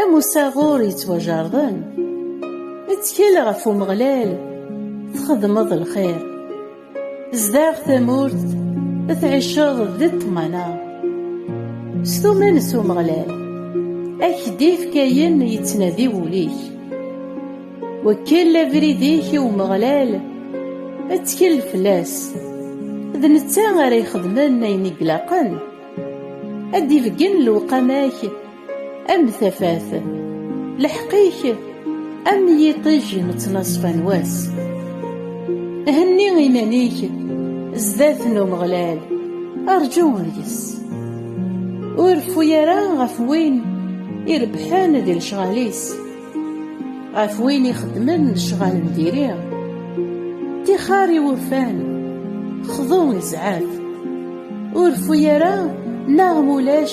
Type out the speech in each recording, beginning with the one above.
Am usaɣur yettwajerḍen, ttkel ɣef Umeɣlal, txedmeḍ lxir. Zdaɣ tamurt, tɛiceḍ di ṭṭmana. S tuman s Umeɣlal, ak d-ifk ayen yettnadi wul-ik. Wekkel abrid-ik i Umeɣlal, ttkel fell-as. D netta ara ixedmen ayen i ilaqen, ad d-ibeggen lewqama-k am tafat leḥqik am yiṭij nettnaṣfa n wass henni iman-ik zdat n umeɣlal arǧu yes ur rfu ara ɣef win irebḥen di lecɣal-is ɣef win ixeddmen lecɣal n diri tixar iwufan xḍu izɛaf ur rfu ara neɣ mulac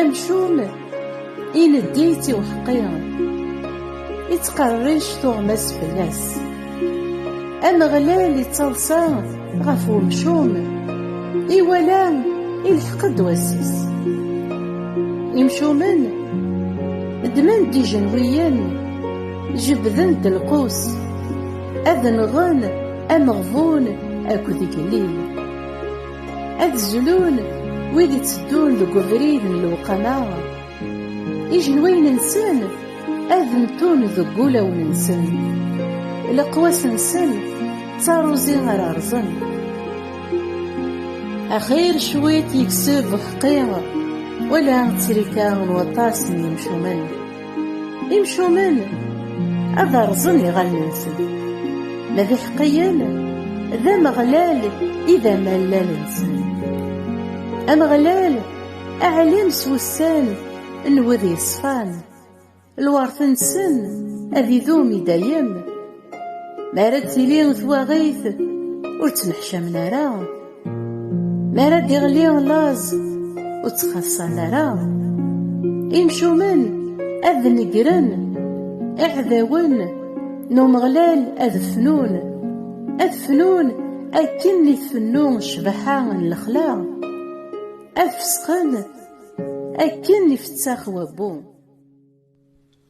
Amcum ileddi-tt i uḥeqqi, ittqerric tuɣmas fell-as. Ameɣlal ittaḍsa ɣef umcum, iwala ilḥeq-d wass-is. Imcumen ddmen-d ijenwiyen, jebbden-d lqus, ad nɣen ameɣbun akked igellil. Ad zlun wid itteddun deg ubrid n lewqama, ijenwayen-nsen ad mtun deg wulawen-nsen, leqwas-nsen d taruẓi ara rẓen. Axir cwiṭ yekseb xqi, wala ttrika n waṭas n yimcumen. Imcumen ad rẓen iɣallen-nsen, ma d iḥeqqiyen d Ameɣlal i d amallal-nsen. Ameɣlal aɛlim s wussan n wid yeṣfan, lweṛt-nsen ad idum i dayem. Mi ara d-tili twaɣit ur ttneḥcamen ara, mi ara d-iɣli laẓ ur ttxaṣṣan ara. Imcumen ad negren, iɛdawen n Umeɣlal ad fnun, ad fnun akken i tfennu ccbaḥa n lexla, ad fesqen akken ifettax wabbu.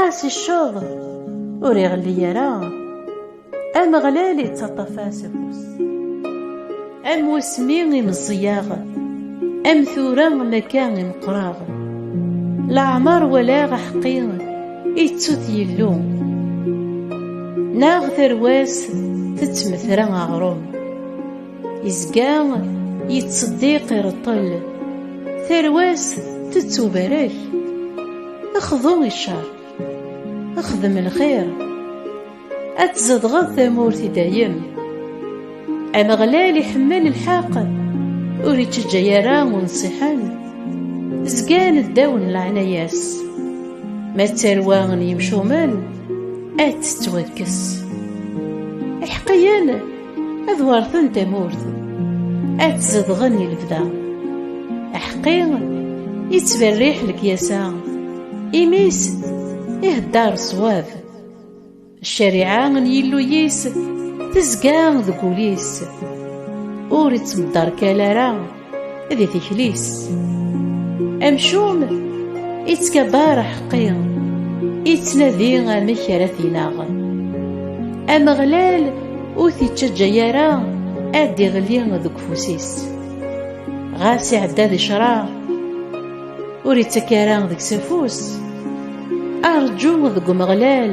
Ɛas cceḍ ur iɣelli ara Ameɣlal ittaṭṭaf-as afus Am wasmi i meẓẓiyaɣ Am tura makka i meqqreɣ Leɛmer walaɣ aḥeqqi Ittu-t Yillu Neɣ tarwa-s tettmetra aɣrum Izga yettseddiq ireṭṭel Tarwa-s tettubarek Xḍu i ccer Xdem lxir Ad tzedɣeḍ tamurt i dayem Ameɣlal iḥemmel lḥeqq Ur ittejjay ara unṣiḥen Zgan ddaw n leɛnaya-s Ma d tarwa n yimcumen Ad tettwakkes Iḥeqqiyen ad warten tamurt ad tzedɣen i lebda aḥqi yettberriḥ lekyasa imis iheddaṛ ṣwab ccariɛa n Yillu-is tezga deg wul-is ur ittmeddarkal ara di tikli-s amcum ittkabar aḥeqqi ittnadi amek ara t-ineɣ ameɣlal ur t-ittaǧǧa ara ad d-iɣli deg ufus-is ɣas iɛedda di ccṛeɛ ur ittak ara deg-s afus arǧu deg umeɣlal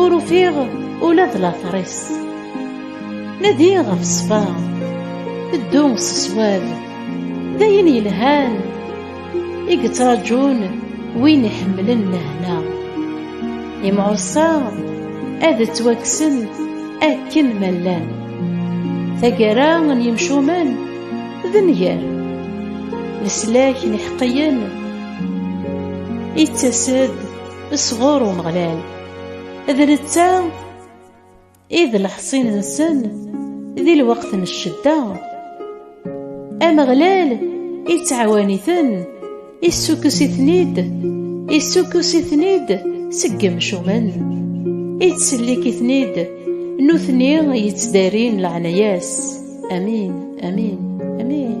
Ur ufiɣ ula d later-is Nadi ɣef ṣṣfa Ddu s ṣṣwab D ayen yelhan I yettraǧun win iḥemmlen lehna Imɛuṣa ad ttwakksen akken ma llan Taggara n yimcumen d nnger Leslak n iḥeqqiyen Ittas-d sɣur Umeɣlal. D netta i d leḥṣin-nsen di lweqt n ccedda. Ameɣlal ittɛawan-iten, issukkes-iten-id, issukkes-iten-id seg yemcumen, ittsellik-iten-id, nutni yettdarin leɛnaya-s. Amin, amin, amin.